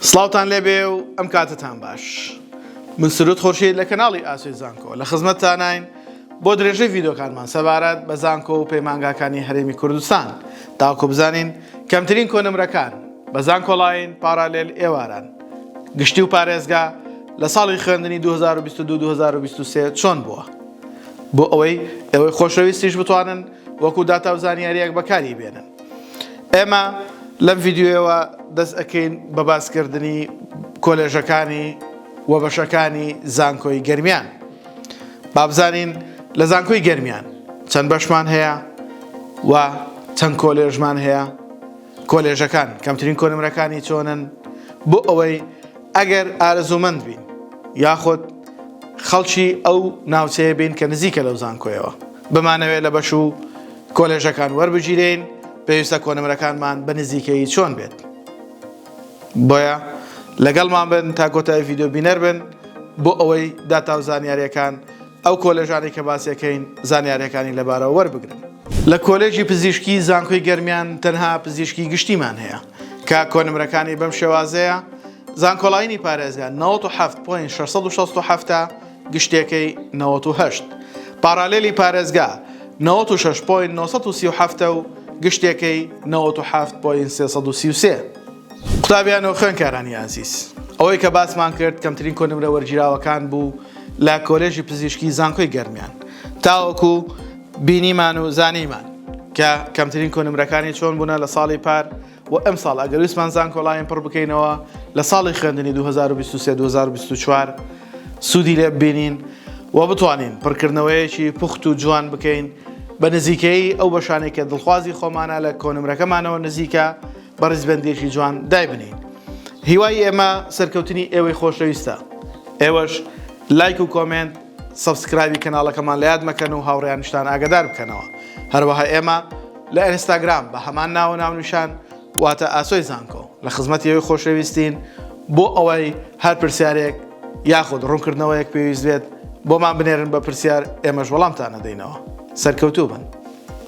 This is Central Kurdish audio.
سڵاوتان لێبێ و ئەم کاتتان باش من سرود خۆشی لە کەناڵی ئاسوی زانکۆ لە خزمەتتانین بۆ درێژەی ڤیدۆکانمان سەبارەت بە زانکۆ و پەیمانگاکانی هەرێمی کوردستان تاکو بزانین کەمترین کۆنمرەکان بە زانکۆڵین پارالێل ئێواران گشتی و پارێزگا لە ساڵی خوێندنی 2022-2023 چۆن بووە بۆ ئەوەی ئەوەی خۆشەویستیش بتوانن وەکو داتا و زانیاریەک بەکاری بێنن ئێمە لەم ڤیددیوەوە دەست ئەەکەین بە باسکردنی کۆلێژەکانی و بەشەکانی زانکۆی گەرمیان بابزانین لە زانکۆی گەرمیان چەند بەشمان هەیە و چەند کۆلێژمان هەیە کۆلێژەکان کەمترین کۆنمرەکانی چۆنن بۆ ئەوەی ئەگەر ئارەزومەند بین یاخود خەڵکی ئەو ناوچەیە بین کە نزیکە لەو زانکۆیەوە بمانەوێت لە بەش و کۆلێژەکان وەربگیرێین پێویستە کۆنمرەکانمان بە نزیکەیی چۆن بێت بۆیە لەگەڵمان بن تا کۆتای ڤیددیو بینەر بن بۆ ئەوەی داتا و زانیاریەکان ئەو کۆلێژانی کە باسیەکەین زانیارەکانی لەبارەوە وەربگرن لە کۆلێژی پزیشکی زانکۆی گەرمیان تەنها پزیشکی گشتیمان هەیە کە کۆنمرەکانی بەم شێوازەیە زانکۆڵینی پارێزگان 97.667 گشتێکەی نەوەت و هەشت پاڕالێلی پارێزگا نەوەت و شەش پۆینت نۆ سەد و سی و حەفت ە و گشتێکەی نەوەت و حەفت پۆینت سێ سەد و سی و سێ. قوتابیان و خوێندکارانی ئازیز، ئەوەی کە باسمان کرد کەمترین کۆنمرە وەرگیراوەکان بوو لە کۆلێژی پزیشکی زانکۆی گەرمیان تاوەکو بینیمان و زانیمان کە کەمترین کۆنمرەکانی چۆن بوونە لە ساڵی پار، بۆ ئەمساڵ ئەگەر ویستمان زانکۆلاین پڕ بکەینەوە لە ساڵی خوێندنی 2023-2024 سوودی لێ ببینین و بتوانین پڕکردنەوەیەکی پوخت و جوان بکەین بە نزیکەی ئەو بەشانێک کە دڵخوازی خۆمانە لە کۆنمرەکەمانەوە نزیکە بە ڕیزبەندێکی جوان دایبنین هیوای ئێمە سەرکەوتنی ئێوەی خۆشەویستە ئێوەش لایک و کۆمنت سەبسکرایبی کەناڵەکەمان لەیاد مەکەن و هاوڕیانشتان ئاگدار بکەنەوە هەروەها ئێمە لە ئەرستاگرام بە هەمان ناوە ناونیشان واتە ئاسۆی زانکۆ لە خزمەت یەوەی خۆشەویستین بۆ ئەوەی هەر پرسیارێک یاخود ڕوونکردنەوەیەک پێویست بێت بۆمان بنێرن بە پرسیار ئێمەش وەڵامتان نەدەینەوە سەرکەوتوو بن.